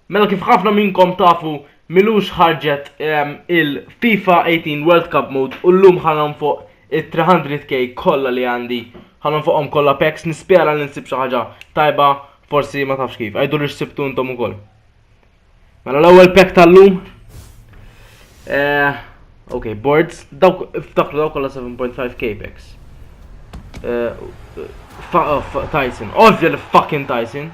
Mela kif ħafna minnkom tafu milux ħarġet il-FIFA 18 World Cup Mode u llum ħanon fuq it-300k kollha li għandi ħanon fuqhom kollha packs nispjara li nsib xi ħaġa tajba forsi ma tafx kif. Għajdu li xsibtu intom ukoll. Mela l-ewwel pack tal-lum. Eh, ok, boards, dawk ftakru dawk kollha 7.5k packs. Eh, eh, Tyson, ovvja li fucking Tyson.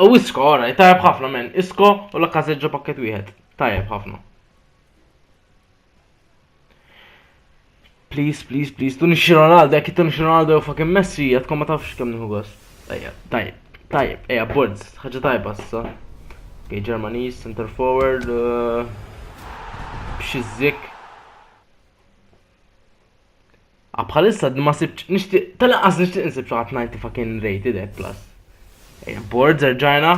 U isko, ora, tajab ħafna men, isko u la kazeġġa pakket wieħed. Tajab ħafna. Please, please, please, tuni xi Ronaldo, jekk tuni xi Ronaldo u fucking Messi, jatkom ma tafx kemm nieħu gost. Tajab, tajab, tajab, eja, boards, ħaġa tajba issa. Ok, Germaniż, center forward, uh, b'xi zik. Ah, bħalissa d- ma sibċ, nishtiq, tal-anqas nishtiq nsib xaħat 90 fucking rated eh, plus. Eh, Boards erġajna.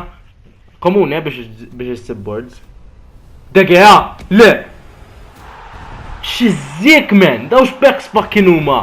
Komuni eh, biex biex issib boards. Degea, le! Xizzik men, dawx backs fucking huma.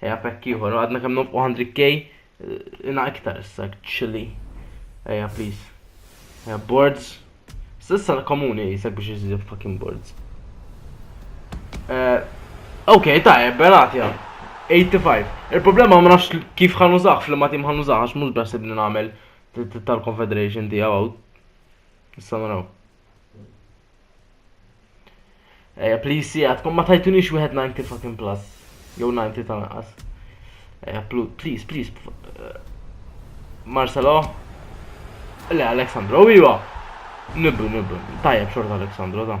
Eja, pekk ieħor, għadna kemm nofqu 100k, eh, ina iktar issa, chili. Eja, please. Eja, boards. Sissa l-komuni jisek biex jizidu fucking boards. Eh, ok, ta' ebbelat jgħam. 85. Il-problema ma nafx kif ħan użax, fl-ma tim ħan użax, għax mux bħasib li namel tal-Confederation tijaw. Issa naraw. Eja, please si għadkom ma tajtunix wieħed 90 fucking plus. Jew 90 ta' naqas. Eja, please, please. Eh, Marcelo. Le, Alexandro, iwa. Nibru, nibru. Tajjeb xorta Alexandro, ta'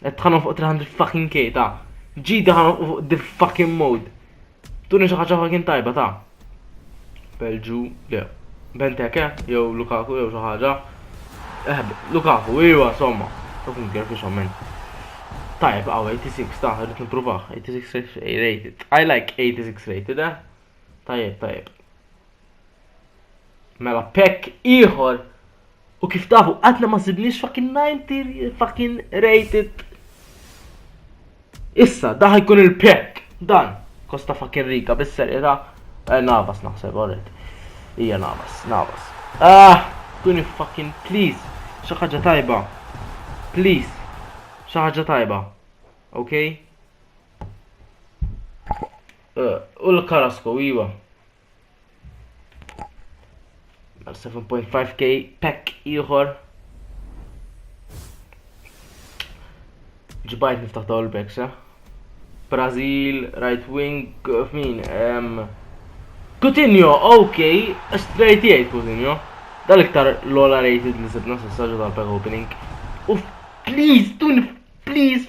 Qed tħanom fuq 300 fucking K ta' ġida ħanom fuq the fucking mode. Tuni xi ħaġa fucking tajba ta' Belġu, le. Benteke, jew Lukaku, jew xi ħaġa. Eh, Lukaku, iwa, somma. Fucking girl fi xommen. Tajb, għaw, 86 ta' rrit nipruvaħ. 86 rated. I like 86 rated, eh? Tajb, tajb. Mela, pek iħor U kif tafu, għadna ma sibniex fucking 90 fucking rated. Issa, daħi kun il-pek, dan, Costa fucking Rica, bisser ira, eh, navas naħseb, għorret. Ija navas, navas. Ah, kuni fucking, please, xaħġa tajba. Please, xaħġa tajba. Ok? Eh, u l-karasko, iwa. Għal 7.5k pack ieħor. Ġbajt niftaħ dawl backs, eh? Brazil, right wing, f'min, um, Coutinho, ok, straight jgħid Coutinho. Dal-iktar l-ola rated li sibna s-saġu tal-pack opening. Uf, please, tun, please,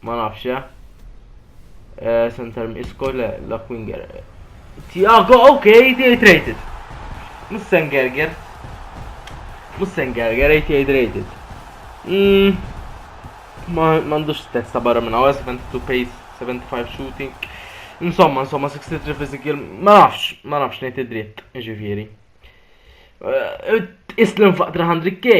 Ma nafx eh. eh center Isco le, la Quinger. Tiago, ok, tiegħi traded. Mussen Gerger. Mussen Gerger, eh, tiegħi traded. Mm. Ma m'għandux stess ta' barra minn hawn 72 pace, 75 shooting. Insomma, insomma, 63 physical, ma nafx, ma nafx ngħid id-dritt, ġifieri. Eh, Islim faq 300k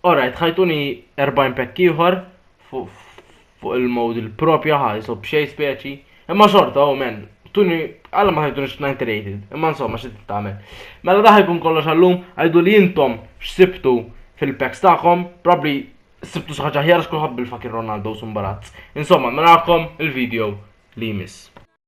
Alright, ħajtuni 40 pekk ieħor fuq il-mod il-propja ħa jisob xej speċi. Imma xorta, oh men, tuni għalla ma ħajtuni x-90 rated, imma insomma xi tagħmel. Mela daħ jkun kollox għallum, għajdu li jintom x'sibtu fil-packs tagħkom, probably sibtu xi ħaġa ħjar x'kulħadd bil-fakir Ronaldo sumbarazz. Insomma, mela il-video li jmiss.